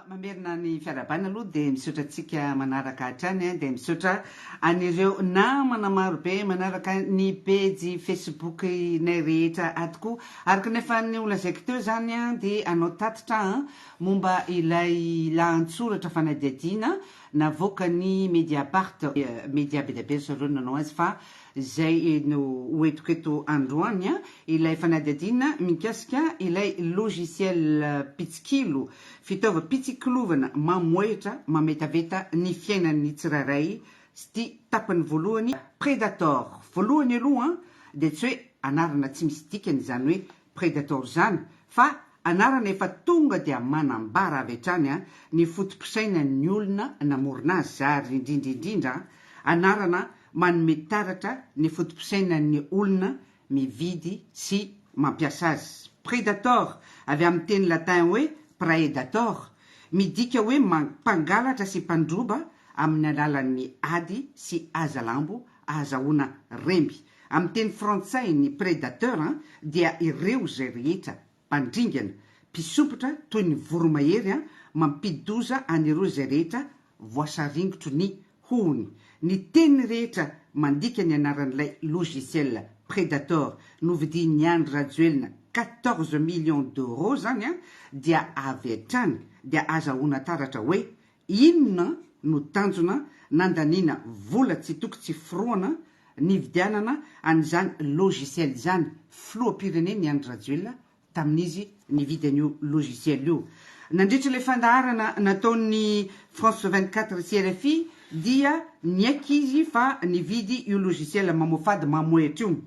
Mamerina ny fiarahabana aloha dia misaotra antsika manaraka hatrany eh, dia misaotra an'ireo namana marobe manaraka ny pejy Facebook inay rehetra ato koa. Araka ny efa ny holazaiko teo izany eh, dia anao tatitra eh, momba ilay lahatsoratra fanadihadiana Navoakan'i Mediapart, media be dia be zareo no nanao azy fa izay no ho entiko eto androany, ilay fanadihadiana mikasika ilay logiciel mpitsikilo, fitaovam-pitsikilovana mamohehitra mametaveta ny fiainan'ny tsirairay sty tapany voalohany, Predator voalohany aloha dia tsy hoe anarana tsy misy dikany izany hoe Predator zany fa anarana efa tonga dia manambara avy hatrany an ny fotopisainany ny olona namorona azy ary indrindra indrindra an anarana manome taratra ny fotopisainany ny olona mividy sy mampiasa azy. Predator avy amin'ny teny latin hoe praedator midika hoe mpangalatra sy mpandroba amin'ny alalan'ny ady sy hazalambo ahazahoana remby. Amin'ny teny frantsay ny predateur dia ireo izay rehetra, mpandringana, mpisopitra toy ny voromahery mampidi-doza an'ireo izay rehetra voasaringotro ny hohony. Ny teny rehetra mandika ny anaran'ilay logiciel predator novidian'i Andry Rajoelina quatorze millions d'euros izany dia avy hatrany dia azahoana taratra hoe Inona no tanjona nandaniana vola tsy toko tsy forohana nividianana an'izany logiciel izany filoham-pireneny Andry Rajoelina tamin'izy nividy an'io logiciel io? Nandritra ilay fandaharana nataon'ny France vingt quatre sy rfi dia niaiky izy fa nividy io logiciel mamoafady mamohehitra io.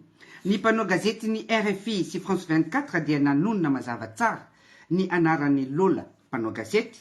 Ny mpanao gazetin'ny rfi sy France vingt quatre dia nanonona mazava tsara ny anaran'i Lola mpanao gazety,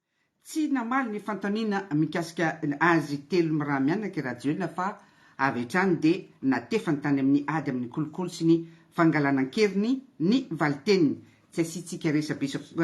Tsy namaly ny fanontaniana mikasika azy telo miraha-mianaka i Rajoelina fa avy hatrany dia natefany tany amin'ny ady amin'ny kolikoly sy ny fangalana an-keriny ny valin-teniny. Tsy asiantsika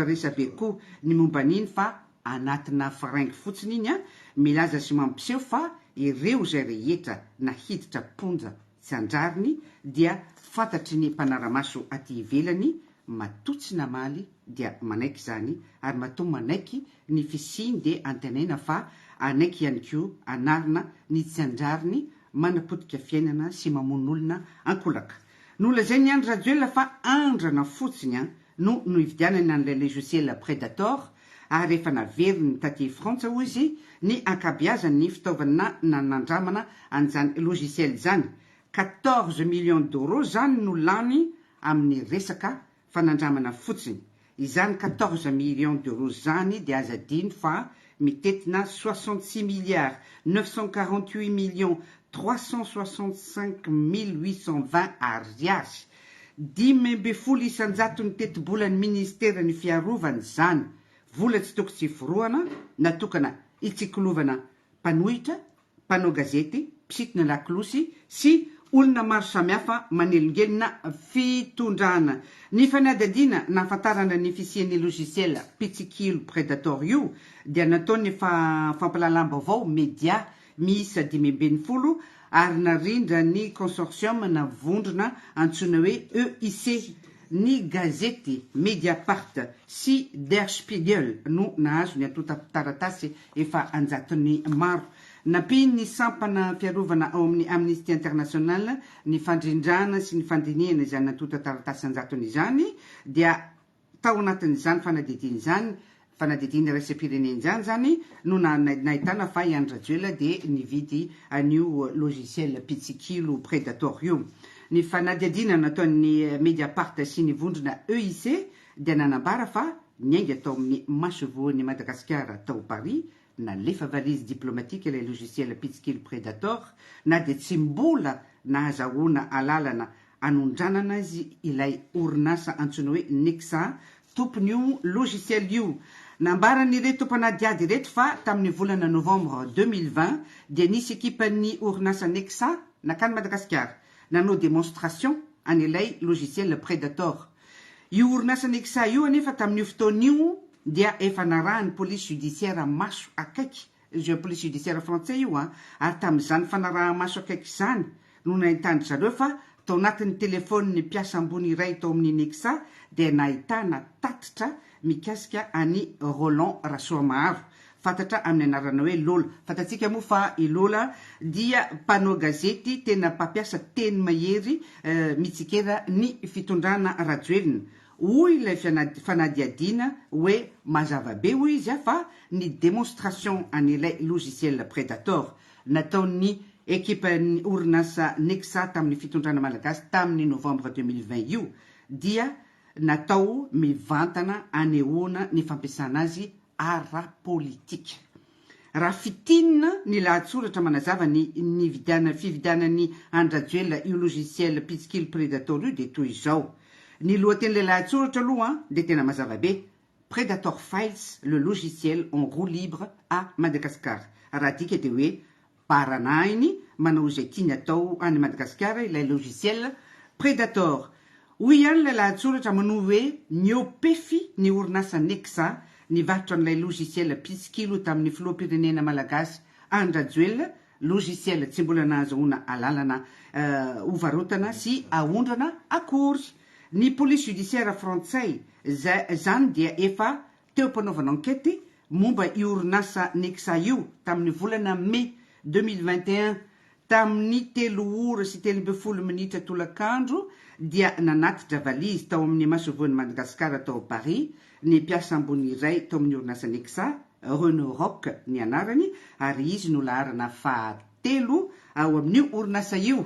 resabe koa ny momba an'iny fa anatina fringue fotsiny iny an! Milaza sy mampiseho fa ireo izay rehetra nahiditra am-ponja. tsy an-drariny dia fantatry ny mpanara-maso aty ivelany matoa tsy namaly dia manaiky izany ary matoa manaiky ny fisiany dia antenaina fa hanaiky ihany koa hanarina ny tsy an-drariny manapotika fiainana sy mamono olona ankolaka. Nolazain'i Andry Rajoelina fa andrana fotsiny an! no nohividianany an'ilay logiciel Predator ary efa naveriny taty Frantsa hoy izy ny ankabeazan'ny fitaovana nanandramana an'izany logiciel izany, quatorze millions d'euros izany no lany amin'ny resaka fanandramana fotsiny, izany quatorze millions d'euros izany dia aza adino fa mitetina soixante six milliards neuf cent quarante huit millions trois cent soixante cinq mille huit cent vingt ariary Dimy ambin'ny folo isan-jaton'ny tetibolan'ny Ministeran'ny Fiarovana izany, vola tsy toko tsy forohana natokana hitsikilovana mpanohitra, mpanao gazety, mpisintona lakolosy sy olona maro samihafa manelingelina fitondrana. Ny fanadihadiana nahafantarana ny fisian'io logiciel mpitsikilo Predator io dia nataon'ny fampahalalam-baovao Media miisa dimy ambin'ny folo ary narindra ny consortium na vondrona antsoina hoe EIC. Ny gazety Mediapart sy Der Spiegel no nahazo ny antontan-taratasy efa an-jatony maro. Nampian'ny sampana fiarovana ao amin'ny Amnesty International ny fandrindràna sy ny fandinihana izany antontan-taratasy an-jatony izany, dia Tao anatin'izany fanadidiana izany, fanadidiana iraisam-pirenena izany izany no nahitana fa i Andry Rajoelina dia nividy an'io logiciel mpitsikilo Predator io. Ny fanadihadiana nataon'ny Mediapart sy ny vondrona EIC dia nanambara fa niainga tao amin'ny masoivohon'i Madagasikara tao Paris Nalefa valise diplomatique ilay logiciel pitsikely Predator na dia tsy mbola nahazahoana alalana anondranana azy ilay orinasa antsoina hoe Nexa, tompon'io logiciel io. Nambaran'ireto mpanadihady ireto fa tamin'ny volana novembre deux mille vingt dia nisy ekipan'ny orinasa Nexa nankany Madagasikara nanao demonstration an'ilay logiciel Predator. Io orinasa Nexa io anefa tamin'io fotoana io dia efa narahin'ny police judiciaire maso akaiky, je police judiciaire frantsay io an, ary tamin'izany fanaraha-maso akaiky izany no nahitandry zareo fa tao anatin'ny telefon'ny mpiasa ambony iray tao amin'ny Nexa dia nahitana tatitra mikasika an'i Roland Rasoamaharo, fantatra amin'ny anarana hoe Lola. Fantatsika moa fa i Lola dia mpanao gazety tena mpampiasa teny mahery mitsikera ny fitondrana Rajoelina, Hoy ilay fanadihadiana hoe mazava be hoy izy fa ny demonstration an'ilay logiciel Predator nataon'ny ekipan'ny orinasa Nexa tamin'ny fitondrana malagasy tamin'ny novambra deux mille vingt io dia natao mivantana anehoana ny fampiasana azy ara-politika. Raha fitinina ny lahatsoratra manazava ny nividiana fividianan'i Andry Rajoelina io logiciel mpitsikilo Predator io dia toy izao. Ny lohatenin'ilay lahatsoratra aloha dia tena mazava be, Predator Files, le logiciel en roue libre à Madagascar. Raha adika dia hoe Baranahiny manao izay tiany atao any Madagasikara ilay logiciel Predator. Hoy ihany ilay lahatsoratra manohy hoe Miopefy ny orinasa Nexa nivarotra an'ilay logiciel mpitsikilo tamin'ny filoham-pirenena malagasy Andry Rajoelina, logiciel tsy mbola nahazahoana alalana hovarotana sy haondrana akory. Ny police judiciaire frantsay izany dia efa teo am-panaovana ankety momba io orinasa Nexa io tamin'ny volana Mey deux mille vingt et un, tamin'ny telo ora sy telo ambin'ny folo minitra tolakandro dia nanatitra valizy tao amin'ny masoivohon'i Madagasikara tao Paris ny mpiasa ambony iray tao amin'ny orinasa Nexa, Renaud Rock ny anarany ary izy no laharana fahatelo ao amin'io orinasa io.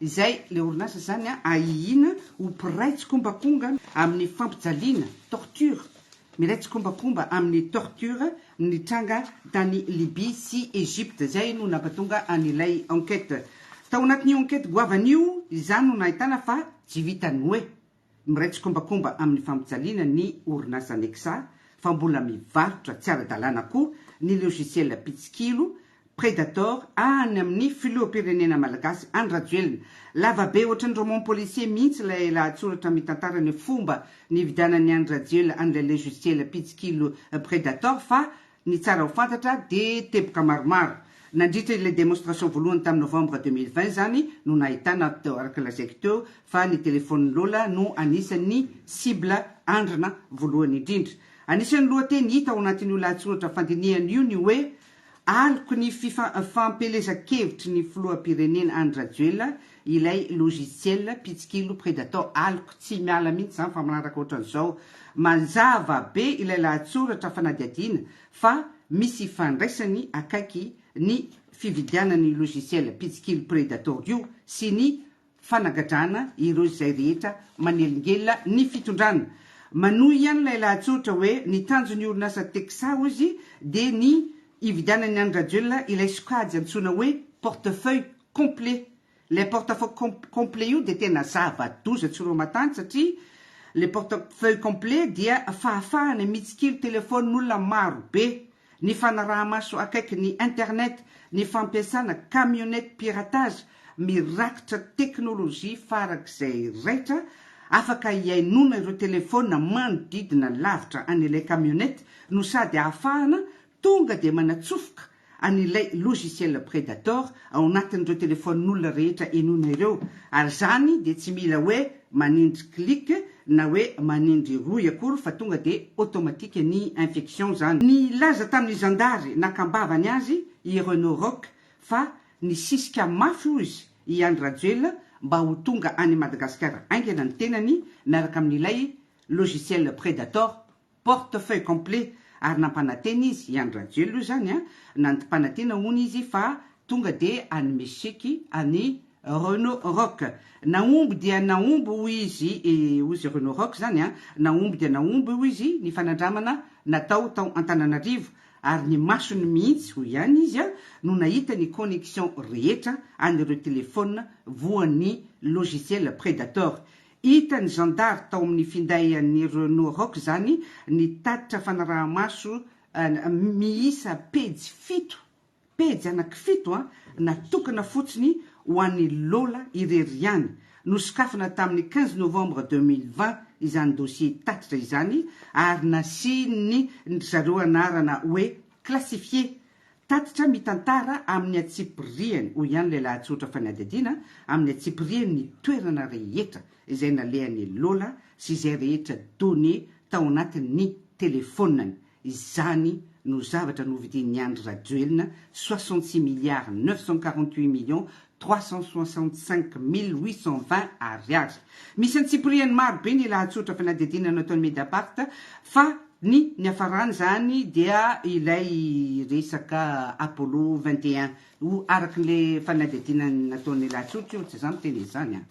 Izay, ilay orinasa izany an, ahihiana ho mpiray tsikombakomga amin'ny fampijaliana, torture, miray tsikombakomba amin'ny torture nitranga tany Libye sy Egypte. Izay no nampatonga an'ilay enquête. Tao anatin'io enquête goavana io, izany no nahitana fa tsy vitan'ny hoe Miray tsikombakomba amin'ny fampijaliana ny orinasa Nexa fa mbola mivarotra tsy ara-dalàna koa ny logiciel mpitsikilo, predator, any amin'ny filoham-pirenena malagasy Andry Rajoelina. Lava be ohatran'ny roman policier mihitsy ilay lahatsoratra mitantara ny fomba nividianan'i Andry Rajoelina an'ilay logiciel mpitsikilo predator fa Ny tsara ho fantatra dia teboka maromaro nandritra ilay démonstration voalohany tamin'ny novembre deux mille vingt izany no nahitana teo araka lazaiko teo fa ny telefaonin'i Lola no anisan'ny cible andrana voalohany indrindra. Anisan'ny lohateny hita ao anatin'io lahatsoratra fandinihana io ny hoe Aloky ny fifa fampielezan-kevitry ny filoham-pirenena Andry Rajoelina Ilay logiciel mpitsikilo predator aloka tsy miala mihitsy izany fa manaraka ohatran'izao. Mazava be ilay lahatsoratra fanadihadiana fa misy ifandraisany akaiky ny fividianan'io logiciel mpitsikilo predator io sy ny fanagadrana ireo izay rehetra manelingelina ny fitondrana. Manohy ihany ilay lahatsoratra hoe ny tanjon'ny orinasa Texa hozy dia ny hividianan'i Andry Rajoelina ilay sokajy antsoina hoe portefeuille complet, ilay portefeuille complet io dia tena zava-doza tsy roa matany satria ilay portefeuille complet dia fahafahana mitsikilo telefaonin'olona maro be, ny fanaraha-maso akaiky ny internet, ny fampiasana camionnette piratage mirakitra teknolojia farak'izay raitra, afaka hihainoana ireo telefaonina manodidina lavitra an'ilay camionnette no sady ahafahana Tonga dia manatsofoka an'ilay logiciel Predator ao anatin'ireo telefaonin'olona rehetra henoina ireo, ary izany dia tsy mila hoe manindry clic na hoe manindry rohy akory fa tonga dia automatique ny infection izany. Nilaza tamin'ny zandary nakambavany azy i Renaud Rock fa nisisika mafy hoy izy i Andry Rajoelina mba ho tonga any Madagasikara haingana ny tenany miaraka amin'ilay logiciel Predator. Portefeuille complet ary nampanantena izy, i Andry Rajoelina hoy zany an, nanmpanantena hono izy fa tonga dia hanome chèque an'i Renaud Rock. Nahomby dia nahomby hoy izy, hoy izy Renaud Rock zany an, nahomby dia nahomby hoy izy ny fanandramana natao tao Antananarivo ary ny masony mihitsy hoy ihany izy an, no nahita ny connexion rehetra an'ireo téléphone voan'ny logiciel Predator Hitan'ny zandary tao amin'ny finday an'ny Renault Roc izany ny tatitra fanaraha-maso miisa pejy fito, pejy anankifito, natokana fotsiny ho an'i Lola irery ihany. Nosokafana tamin'ny quinze novembre deux mille vingt izany dossier tatitra izany ary nasian'ny ry zareo anarana hoe classifié Tatitra mitantara amin'ny antsipiriany, hoy ihany ilay lahatsoratra fanadihadiana, amin'ny antsipiriany ny toerana rehetra izay nalehan'i Lola sy izay rehetra données tao anatin'ny telefonany. Izany no zavatra novidin'i Andry Rajoelina, soixante-six milliards neuf cent quarante-huit millions trois cent soixante cinq mille huit cent vingt Ariary. Misy antsipiriany maro be ny lahatsotra fanadihadiana nataon'ny Mediapart fa ny niafaran'izany dia ilay resaka Apollo vingt et un o araka ilay fanadihadiana nataon'ny lahatsotra io tsy za miteny an'izany an!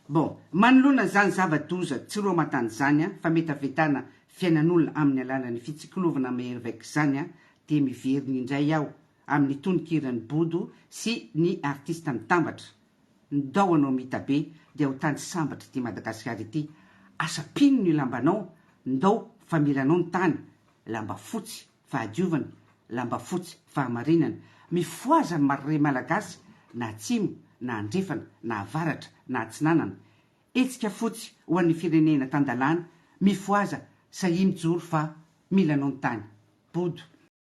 Bon, manoloana an'izany zava-doza tsy roa aman-tany izany an, fametavetana fiainan'olona amin'ny alalan'ny fitsikilovana mahery vaika izany an, dia miverina indray aho amin'ny tononkiran'i Bodo sy ny artista mitambatra, ny dao anao Mitabe dia ho tany sambatra ity Madagasikara ity, asa mpino ny lambanao, ndao famiranao ny tany, lamba fotsy fahadiovana, lamba fotsy fahamarinana, mifohaza ny marirey malagasy na atsimo na andrefana na avaratra na atsinanana, hetsika fotsy ho an'ny firenena tan-dalàna, mifohaza sahia mijoro fa mila anao ny tany, Bodo.